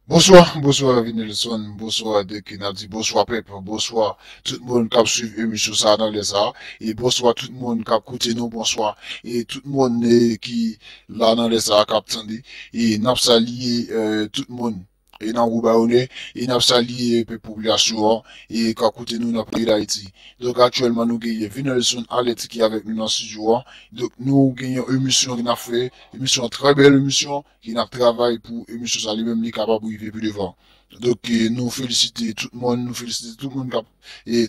Bonswa bonswa Ravinelson bonswa dèke nap di bonswa pèp bonswa tout moun kap swiv emisyon sa nan lè sa e bonswa tout moun kap koute nou bonswa e tout moun ki la nan lè sa kap tande e nap salye tout moun e nan gwo bay onè e nap salye pèp popilasyon an e kap koute nou nan peyi dayiti donk aktyèlman nou gen Ravinelson Alerte ki avèk nou nan studio a donk nou gen yon emisyon nap fè emisyon an trè bèl emisyon ki nap travay pou emisyon sa li menm li kapab rive pi devan donk nou felisite tout moun nou felisite tout moun kap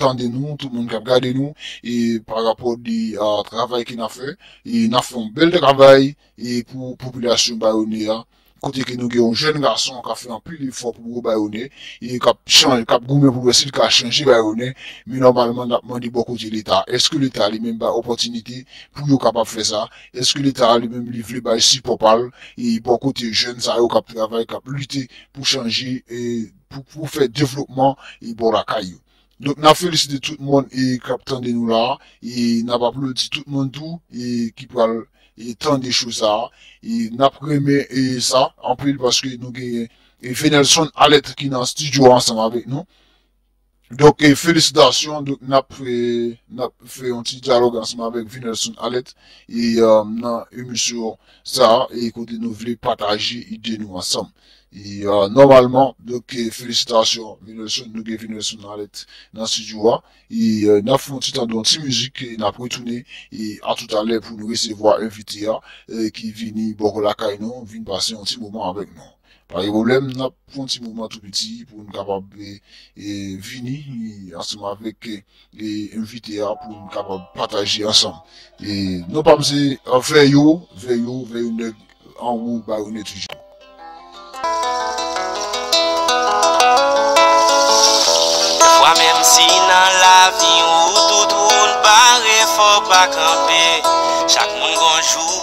tande nou tout moun kap gade nou e pa rapò de travay ke nap fè e nap fè yon bèl travay e pou popilasyon bayonè a kote ke nou gen yon jèn gason kap fè anpil efò pou gwo bayonè e kap chan kap goumen pou wè si li ka chanje bayonè men nòmalman nap mande bò kote leta èske leta li menm bay opòtinite pou yo kapab fè sa Eske leta a li menm li vle bay sipò pa l bò kote jèn sa yo k ap travay, k ap lite pou chanje, pou fè devlopman bò lakay yo? Donk n ap felisite tout moun k ap tande nou la a, n ap aplodi tout moun tou ki pral tande cho sa a. N ap renmen sa anpil paske nou gen Venelson Alerte ki nan stidyo a ansanm avèk nou. Donk felisitasyon donk nap nap fè yon ti dyalòg ansanm avèk Vinelson Alette e nan emisyon sa e kote nou vle pataje ide nou ansanm e nòmalman donk felisitasyon Vinelson nou gen Vinelson Alette nan studio a e nap fè yon ti tande yon ti mizik e nap retounen e a tout alè pou nou resevwa envite a ki vini bò lakay nou vin pase yon ti moman avèk nou. Pa gen pwoblèm, n ap fon ti mouvman tou piti pou n kapab vini ansanm avèk envite a pou n kapab pataje ansanm. Non pa m se Veyo, Veyo, Veyo nèg anwo bayonet toujou. Pafwa menm si nan lavi ou tout wout bare fò w pa kanpe, chak moun gon jou.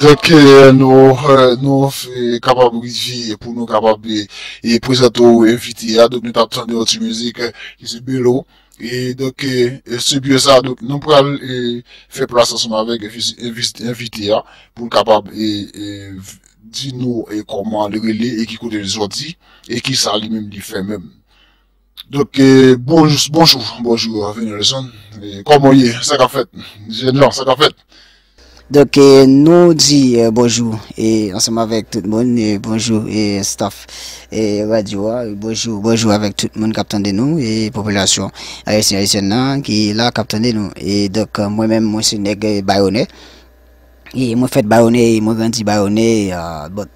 Donk nou kapab rive pou nou kapab e prezante ou envite a, donk nou tap tande yon ti mizik ki se Belo e donk se byen sa donk nou pral fè plas ansanm avèk envite a pou l kapab e di nou e kòman li rele e ki kote li sòti e kisa li menm li fè menm. Donk bonjou bonjou bonjou Venelson kòman ou ye sa kap fèt jèn jan sa kap fèt. Donk nou di bonjou e ansanm avèk tout moun e bonjou e staff e radyo a bonjou bonjou avèk tout moun kap tande nou e popilasyon ayisyen ayisyèn nan ki la kap tande nou e donk mwen menm mwen se nèg Bayonè E mwen fèt Bayonne e mwen grandi Bayonne But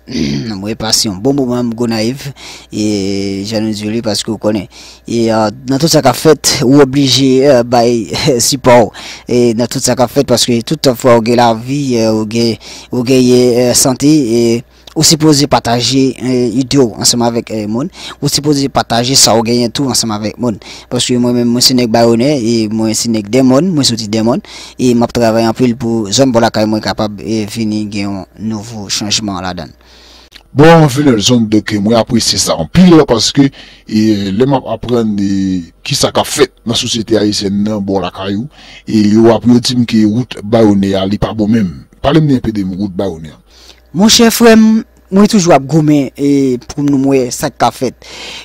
mwen pase yon bon moman m Gonayiv E jan nou di yo li paske ou konnen E nan tout sa k ap fèt ou oblije bay sipò w E nan tout sa k ap fèt paske tout fwa ou gen lavi ou gen ou genyen sante e Ou sipoze pataje idee w ansanm avèk moun, ou sipoze pataje sa ou genyen tou ansanm avèk moun. Paske mwen menm mwen se nèg Bayonè e mwen se nèg Denmòn, mwen soti Denmòn e map travay anpil pou zòn bò lakay mwen kapab vini gen yon nouvo chanjman ladan l. Bon anfen Nelson dòk mwen apresye sa anpil paske lè map aprann kisa kap fèt nan sosyete ayisyèn nan bò lakay ou e yo ap yo dim ke wout Bayonè a li pa bon menm. Pale m enpe de wout Bayonè a. Monchè frè m, mwen toujou ap goumen pou m wè sa k ka fèt.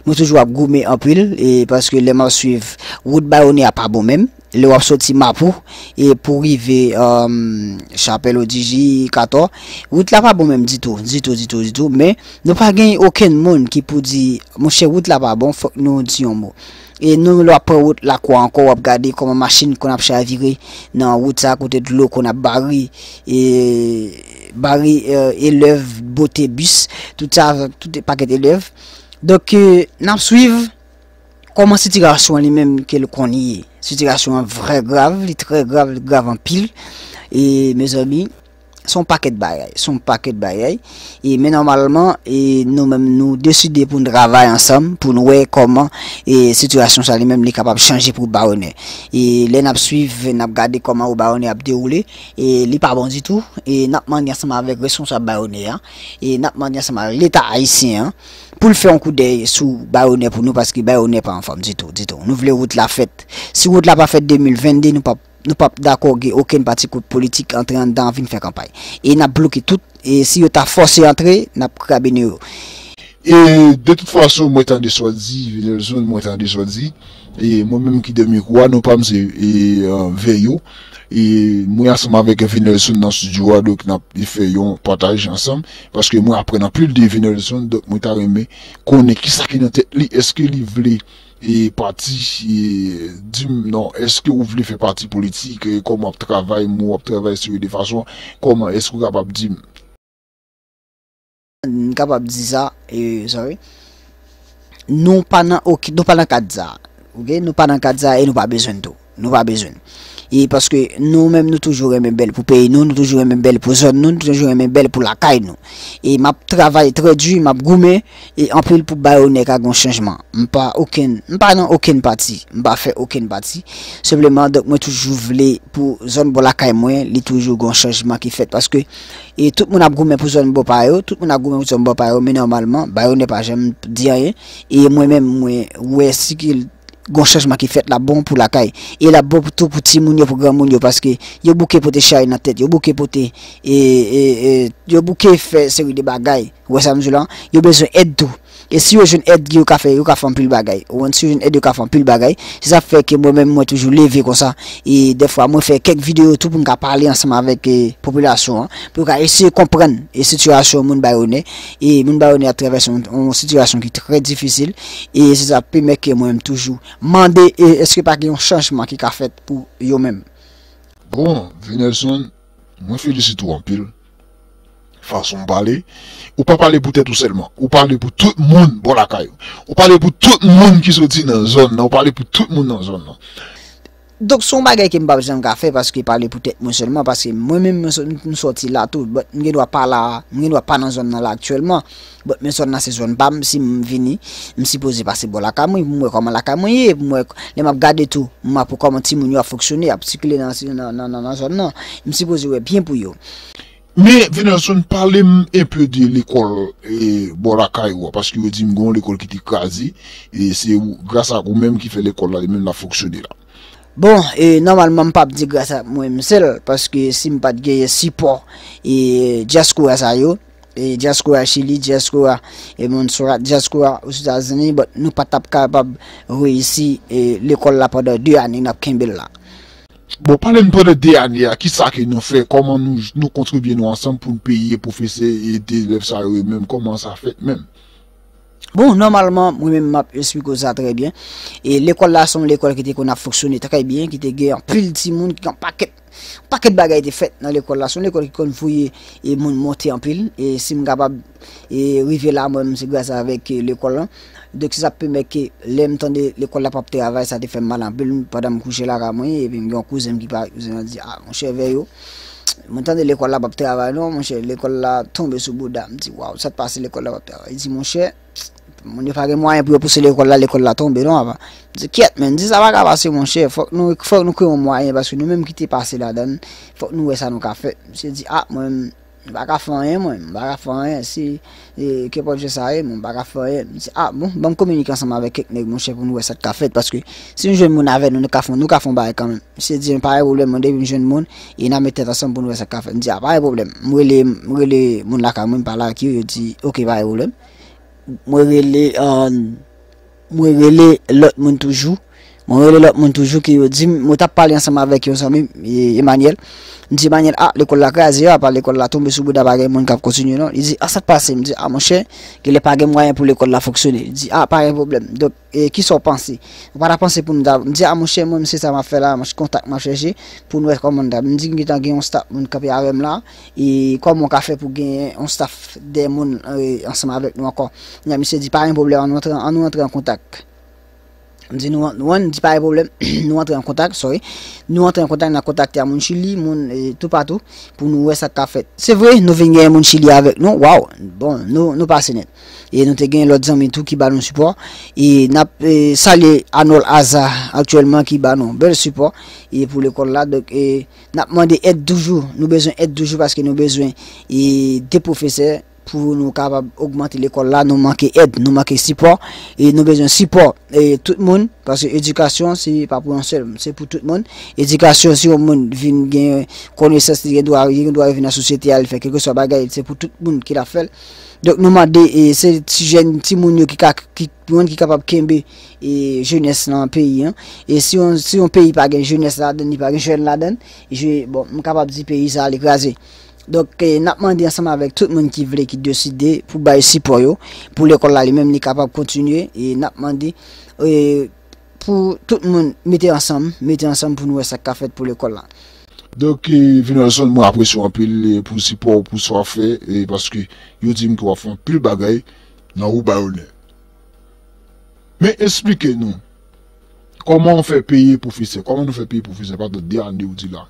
Mwen toujou ap goumen anpil paske lè m ap swiv wout Bayone a pa bon menm. Lè w ap soti Mapou pou w rive Chapèl Odiji, Katò, wout la pa bon menm ditou, ditou, ditou, ditou. Men, nou pa gen okenn moun ki pou di, monchè wout la pa bon, fòk nou di yon mo. E menm lè w ap pran wout Lakwa ankò, w ap gade kòman machin konn ap chavire nan wout sa a kote dlo konn ap bare. bare elèv bote bis tout sa avèk tout pakèt elèv donk nap swiv kòman sitirasyon li menm ke l konn ye sitirasyon an vrè grav li trè grav li grav anpil e mezanmi son pakèt bagay son pakèt bagay e men nòmalman e nou menm nou deside pou n travay ansanm pou n wè kòman e sitirasyon sa li menm li kapab chanje pou barone e lè nap swiv nap gade kòman ou barone ap dewoule e li pa bon ditou e nap mande ansanm avèk responsab Bayonè a e nap mande ansanm avèk leta ayisyen an poul fè yon koudèy sou Bayonè pou nou paske Bayonè pa anfòm ditou ditou nou vle wout la fèt si wout la pa fèt 2022 nou pap nou pap dakò gen okenn pati koup politik antre anndan an vin fè kanpay e nap bloke tout e si yo ta fòse antre nap krabennen yo e de tout fason mwen tande sa w di Venelson mwen tande sa w di. E mwen menm ki dè mikwo a, non pa m se Veyo. E mwen ansanm avèk Venelson nan studio a, donk n ap fè yon pataj ansanm. Paske mwen aprann anpil de Venelson, donk mwen ta renmen konnen ki sa ki nan tèt li. Eske li vle pati, di m non, eske ou vle fè pati politik, kòman w ap travay, mwen wè w ap travay sou yo de fason, kòman eske ou kapab di m. M kapab di sa, sorry. Nou pa nan ok, nou pa nan kad sa. Ok, nou pa nan kad sa e nou pa bezwen tou. Nou pa bezwen. E paske nou menm nou toujou renmen bèl pou peyi nou, nou toujou renmen bèl pou zòn nou, nou toujou renmen bèl pou lakay nou. E m ap travay trè di, m ap goumen e anpil pou bay onè ka gon chanjman. M pa okenn, m pa nan okenn pati, m pa fè okenn pati. Senpleman donk mwen toujou vle pou zòn bò lakay mwen li toujou gon chanjman ki fèt paske. E tout moun ap goumen pou zòn bò pa yo, tout moun ap goumen pou zòn bò pa yo, men nòmalman, Bayonè pa janm di anyen. E mwen menm, mwen wè si ke gon chanjman ki fèt, l ap bon pou lakay. E l ap bon tou pou timoun yo, pou granmoun yo, paske yo bouke pote chay nan tèt, yo bouke pote, yo bouke fè seri de bagay, ou wè sa m di w la? Yo bezwen èd tou. E si yo jwenn èd yo ka fè yo ka fè anpil bagay. Ou konprann? Si yo jwenn èd yo ka fè anpil bagay. Se sa k fè ke mwen menm mwen toujou leve konsa. E dèfwa mwen fè kèk videyo tou pou m ka pale ansanm avèk popilasyon an. Pou yo ka eseye konprann e sitiyasyon moun Bayonè. E moun Bayonè ap travèse yon yon sitiyasyon ki trè difisil. E se sa pemèt ke mwen menm toujou mande e èske pa gen yon chanjman ki ka fèt pou yo menm. Bon, Venelson, mwen felisite w anpil. Fason w pale, ou pa pale pou tèt ou sèlman, ou pale pou tout moun bò lakay ou. Ou pale pou tout moun ki soti nan zòn nan, ou pale pou tout moun nan zòn nan. Donk se yon bagay ke m pap janm ka fè paske pale pou tèt mwen sèlman, paske mwen menm m soti la tou, but m gen dwa pa la, m gen dwa pa nan zòn nan la aktyèlman. Bon men zòn nan se zòn pam sim vini m sipoze pase bò lakay mwen pou m wè kòman lakay mwen ye pou m wè lè map gade tou m ap wè kòman timoun yo ap fonksyone ap sikile nan zòn nan m sipoze wè byen pou yo. Men Venelson pale m enpe de lekòl bò lakay ou a paske yo di m gen yon lekòl ki te kraze e se gras ak ou menm ki fè lekòl la li menm lap fonksyone la. Bon e nòmalman m pap di gras ak mwen m sèl paske si m pat genyen sipò dyaspora sa yo Diaspora chili, diaspora e Montserrat, diaspora ozetazini but nou pa tap kapab reyisi lekol la pandan 2 ane nap kenbe la. Bon pale m pandan 2 ane a kisa ke nou fè koman nou kontribye nou ansanm pou n peye pwofesè e elèv sa yo menm koman sa fèt menm. Bon nòmalman mwen menm map esplike w sa trè byen e lekòl la se yon lekòl ki te konn ap fonksyone trè byen ki te gen anpil timoun ki gen yon pakèt Yon pakèt bagay te fèt nan lekòl la. Se yon lekòl ki konn voye moun monte anpil. E si m kapab rive la mwen menm se gras avèk lekòl lan. Donk se sa k pèmèt ke lè m tande lekòl la p ap travay sa te fè m mal anpil pandan m kouche laka mwen. Epi m gen yon kouzen m ki pa kouzen an di, A monchè Veyo, mwen tande lekòl la p ap travay non monchè. Lekòl la tonbe sou bouda. M di, Waw, sa k pase lekòl la p ap travay? Li di, Monchè. Moun yo pa gen mwayen pou yo pouse lekòl la, lekòl la tonbe non apa. Di kyèt men, di sa pa ka pase mon chè, fòk nou fòk nou kwe yon mwayen paske nou menm ki te pase ladan, fòk nou wè sa nou ka fè. Misye di a ah, mwen menm m pa ka fè anyen mwen, m pa ka fè anyen si e kenpòt jan sa ye mwen m pa ka fè anyen. M di a ah, bon, ban m kominike ansanm avèk kèk nèg mon chè pou nou wè sa k ka fèt paske si nou jwenn moun avè nou nou ka fon nou ka fon bagay kanmenm. Misye di m pa gen pwoblèm mwen depi m jwenn moun, E na met tèt ansanm poun wè sak ka fèt. M di a pa gen pwoblèm. M rele m rele moun lakay mwen m pale ak yo yo di ok pa gen pwoblèm. Mwen rele mwen rele lòt moun toujou mwen rele lòt moun toujou ke yo dim mwen tap pale ansanm avèk yon zanmi m Emanyèl m di Emanyèl a lekòl la kraze a apa lekòl la tonbe sou bouda pa gen moun kap kontinye non li di a sak pase m di a monchè genlè pa gen mwayen pou lekòl la fonksyone li di a pa gen pwoblèm donk E kisa w panse? Ou pa ta panse pou m ta m di a monchè mwen m se sa m ap fè la, se kontak m ap chèche pou n wè kòman n ta m di m gentan gen yon staf moun kanpe avè m la e kòman w ka fè pou w gen yon staf de moun ansanm avèk nou ankò? Kounye a misye di pa gen pwoblèm an nou antre an nou antre an kontak m di nou an li di pa gen pwoblèm nou antre an kontak sorry nou antre an kontak n ap kontakte a moun chili moun toupatou pou nou wè sa k ka fèt se vre nou vin gen moun chili avèk nou waww bon nou pase nèt. E nou te gen lòt zanmi tou ki ba nou sipò. E nap salye Anol Aza aktyèlman ki ba nou bèl sipò e pou lekòl la. Donk e nap mande èd toujou. Nou bezwen èd toujou paske nou bezwen e de pwofesè pou nou kapab ogmante lekòl la. Nou manke èd, nou manke sipò. E nou bezwen sipò e tout moun. Paske edikasyon se pa pou yon sèl, se pou tout moun. Edikasyon si yon moun vin gen konesans li gen dwa li gen dwa vin nan sosyete a li fè kèlkeswa bagay se pou tout moun ki la fèl. Donk nou mande e se ti jèn ti moun yo ki ka ki moun ki kapab kenbe e jenès nan peyi an. E si yon si yon peyi pa gen jenès ladan li pa gen jèn ladan, je bon m kapab di peyi sa li kraze. Donk e n ap mande ansanm avèk tout moun ki vle ki deside pou bay sipò yo pou lekòl la li menm li kapab kontinye e n ap mande e pou tout moun mete ansanm, mete ansanm pou nou wè sa k ka fèt pou lekòl la. Donk Vinelson mwen apresye w anpil pou sipò w pou sa w ap fè paske yo di m ke w ap fè anpil bagay nan Wo Bayonè. Men esplike nou kòman w fè peye pwofesè, kòman nou fè peye pwofesè pandan 2 ane ou di la.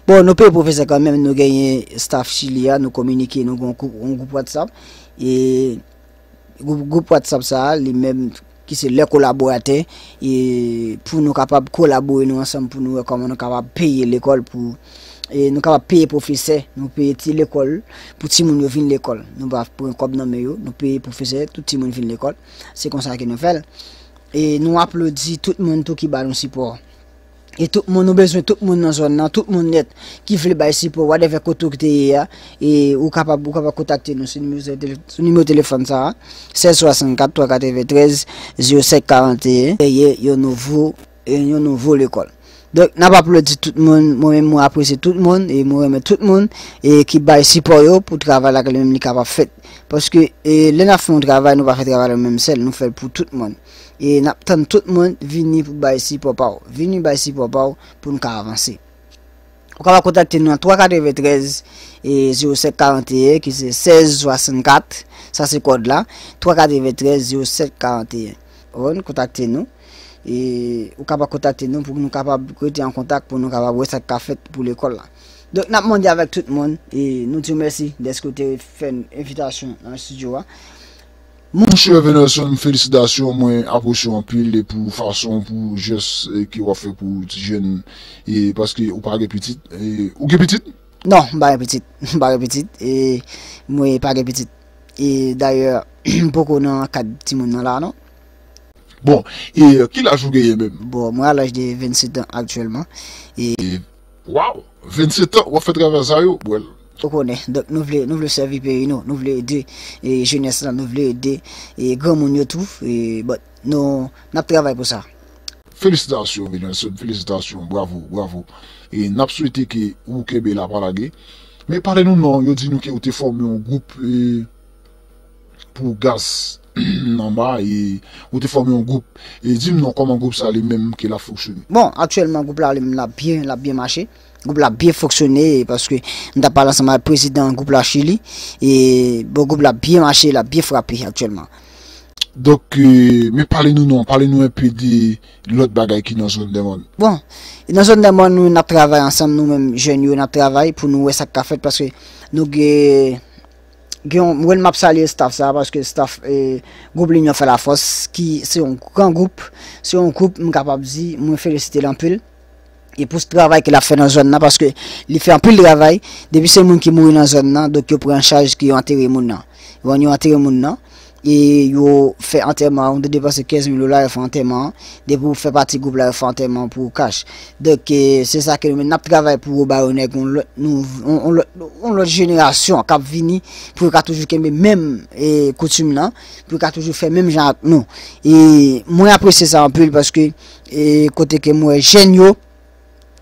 Bon nou peye pwofesè kanmenm nou genyen staff chili a nou kominike nou gen yon gwoup whatsapp e Gwoup WhatsApp sa a li menm ki se lè kolaboratè e pou nou kapab kolabore nou ansanm pou nou wè kòman nou kapab peye lekòl pou e nou kapab peye pwofesè, nou peye ti lekòl pou timoun yo vin lekòl. Nou pa pran kòb nan men yo, nou peye pwofesè, tout timoun vin lekòl. Se konsa ke nou fè l. E nou aplodi tout moun tou ki ba nou sipò. E tout moun, ou bezwen tout moun nan zòn nan, tout moun nèt ki vle bay sipò whatever kote ou te ye a, e ou kapab ou kapab kontakte nou sou nimewo sou tele sou nimewo telefòn sa a, 16 64 393 05 41. kreye yon nouvo yon nouvo lekòl. Donk n ap aplodi tout moun, mwen menm mwen apresye tout moun e mwen renmen tout moun e ki bay sipò yo pou travay la ke li menm li kapab fèt. Paske e lè n ap fè yon travay nou pa fè travay la nou menm sèl, nou fè l pou tout moun. e nap tann tout moun vini pou bay sipò pa w vini bay sipò pa w pou n ka avanse ou kapab kontakte nou nan 3 93 e 07 41 ki se 16 64 sa se kòd la 3 93 07 41 ou n kontakte nou e ou kapab kontakte nou pou nou kapab rete an kontak pou nou kapab wè sa k ka fèt pou lekòl la Donk nap mande avèk tout moun e nou di w mèsi dèske w te fè n envitasyon nan studio a. Mon cher Venelson felisitasyon mwen apresye w anpil pou fason pou jès ke wap fè pou ti jèn e paske ou pa gen pitit ou gen pitit? Non m pa gen pitit m pa gen pitit e mwe pa gen pitit e dayè m poko nan kad ti moun nan la non. Bon e ki laj ou genyen menm? Bon mwen a laj de 27 ans aktyèlman e. Waw 27 ans wap fè travay sa yo bwèl. Ou konnen, donk nou vle nou vle sèvi peyi nou, nou vle ede jenès lan, nou vle ede granmoun yo tou but nou nap travay pou sa. Felisitasyon Venelson felisitasyon bravo bravo e nap swete ke ou kenbe la pa lage men pale nou nan yo di nou ke ou te fòme yon gwoup pou gaz Nanba e ou te fòme yon group e dim non kòman group sa li menm ke lap foksyone. Bon aktyèlman group la li menm lap byen lap byen mache group la ap byen foksyone e paske m tap pale ansanm avèk prezidan group la chili e bon group la ap byen mache lap byen frape aktyèlman. Donk men pale nou non pale nou enpe de lòt bagay ki nan zòn dèmòn. Bon e nan zòn dèmòn nou menm nap travay ansanm nou menm jèn yo nap travay pou nou wè sak ka fèt paske nou gen. Gen yon, mwen map salye staff sa paske staff e gwoup linyon fè la fòs ki se yon gran gwoup, se yon gwoup m kapab di mwen felisite l anpil e pou travay ke l ap fè nan zòn nan paske li fè anpil travay depi se moun ki mouri nan zòn nan donk yo pran an chaj ke yo antere moun nan wan yo antere moun nan E yo fè antèman an, ou te depanse 15 mil dola yo fè antèman an, depi ou fè pati gwoup la yo fè antèman an pou ou kach. Donk se sa ke nou menm nap travay pou yo ba yo nèg yon lòt yon lòt yon lòt jenerasyon kap vini pou yo ka toujou kenbe menm koutim lan, pou yo ka toujou fè menm jan ak nou. E mwen apresye sa anpil paske e kote ke mwen wè jèn yo.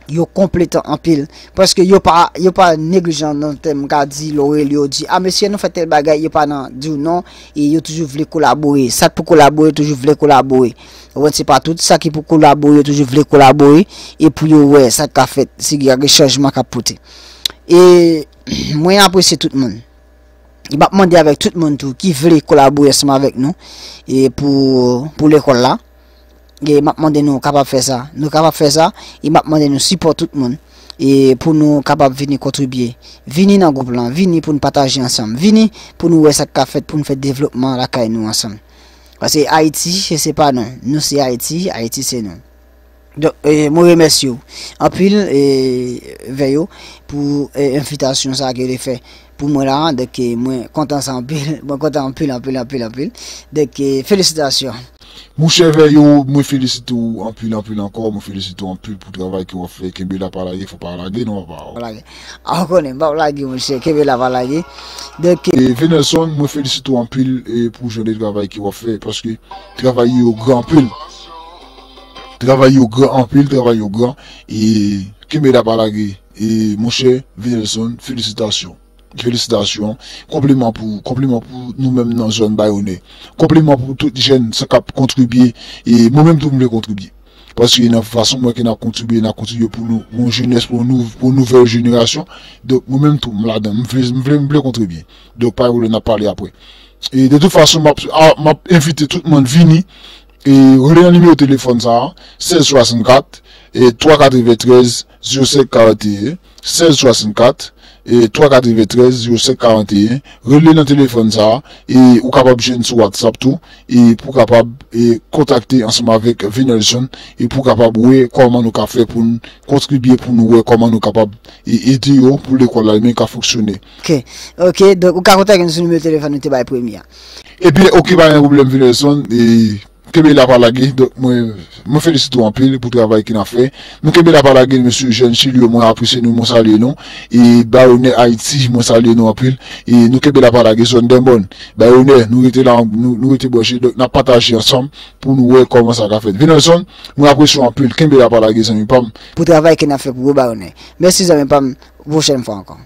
yo konpletan anpil paske yo pa yo pa neglijan nan tèm ka di lò rele yo di a mesye nou fè tel bagay yo pa nan diw non e yo toujou vle kolabore sa k pou kolabore yo toujou vle kolabore ou wè se pa tout sa ki pou kolabore yo toujou vle kolabore e pou yo wè sa k ka fèt si y a gen chanjman k ap pote e mwen apresye tout moun e m ap mande avèk tout moun tou ki vle kolabore ansanm avèk nou e pou pou lekòl la e map mande nou kapab fè sa nou kapab fè sa e map mande nou sipò tout moun e pou nou kapab vini kontribye vini nan gwoup lan vini pou nou pataje ansanm vini pou nou wè sa ka fèt pou nou fè devlopman lakay nou ansanm pase Ayiti se pa nou nou se Ayiti Ayiti se nou Don, e, mwen remèsye ou anpil e vè yo pou e envitasyon sa ke yo te fè. Pou mwen la dèk mwen kontan sa anpil mwen kontan anpil anpil anpil anpil dèk felisitasyon. Mouchè Veyo mwen felisite w anpil anpil ankò mwen felisite w anpil pou travay ke wap fè kenbe la pa lage fò pa lage non papa o. Ah ou konnen m pap lage mouchè kenbe la pa lage dèk. Venelson mwen felisite w anpil pou jan de travay ke wap fè paske travay yo gran anpil travay yo gran anpil travay yo gran e kenbe la pa lage. E monchè Vinelson felisitasyon felisitasyon konpliman pou ou konpliman pou nou menm nan zòn Bayonè konpliman pou tout jèn sa kap kontribye e mwen menm tou m vle kontribye paske nan fason mwen wè ke n ap kontribye n ap kontribye pou nou pou yon jenès pou yon nouvèl jenerasyon donk mwen menm tou m ladan m vle m vle m vle kontribye donk pa gen pwoblèm n ap pale apre e de tout fason m ap a m ap envite tout moun vini e rele nan nimewo telefòn sa a 16 64 e 3 93. Ziro senk karanteyen, sèz swasannkat, twa katreventrèz, ziro senk karanteyen, rele nan telefòn sa a, e ou kapab jwenn sou whatsapp tou, e pou kapab kontakte ansanm avèk Venelson, e pou kapab wè kòman nou ka fè pou n kontribye pou nou wè kòman nou kapab ede yo pou lekòl la menm ka fonksyone. Ok, ok, donk ou ka kontak nou sou nimewo telefòn nou te bay premye a. Ebyen ok pa gen pwoblèm Venelson, e. Kenbe la pa lage donk mwen felisite w anpil pou travay ke nap fè nou kenbe la pa lage mesye jèn chili yo mwen apresye nou mwen salye nou e bay onè ayiti mwen salye nou anpil e nou kenbe la pa lage zòn dèmòn bay onè nou rete la nou rete branche donk nap pataje ansanm pou nou wè kòman sa ka fèt venelson mwen apresye w anpil kenbe la pa lage zanmi pam. Pou travay ke nap fè pou yo bay onè mèsi zanmi pam pou pwochèn fwa ankò.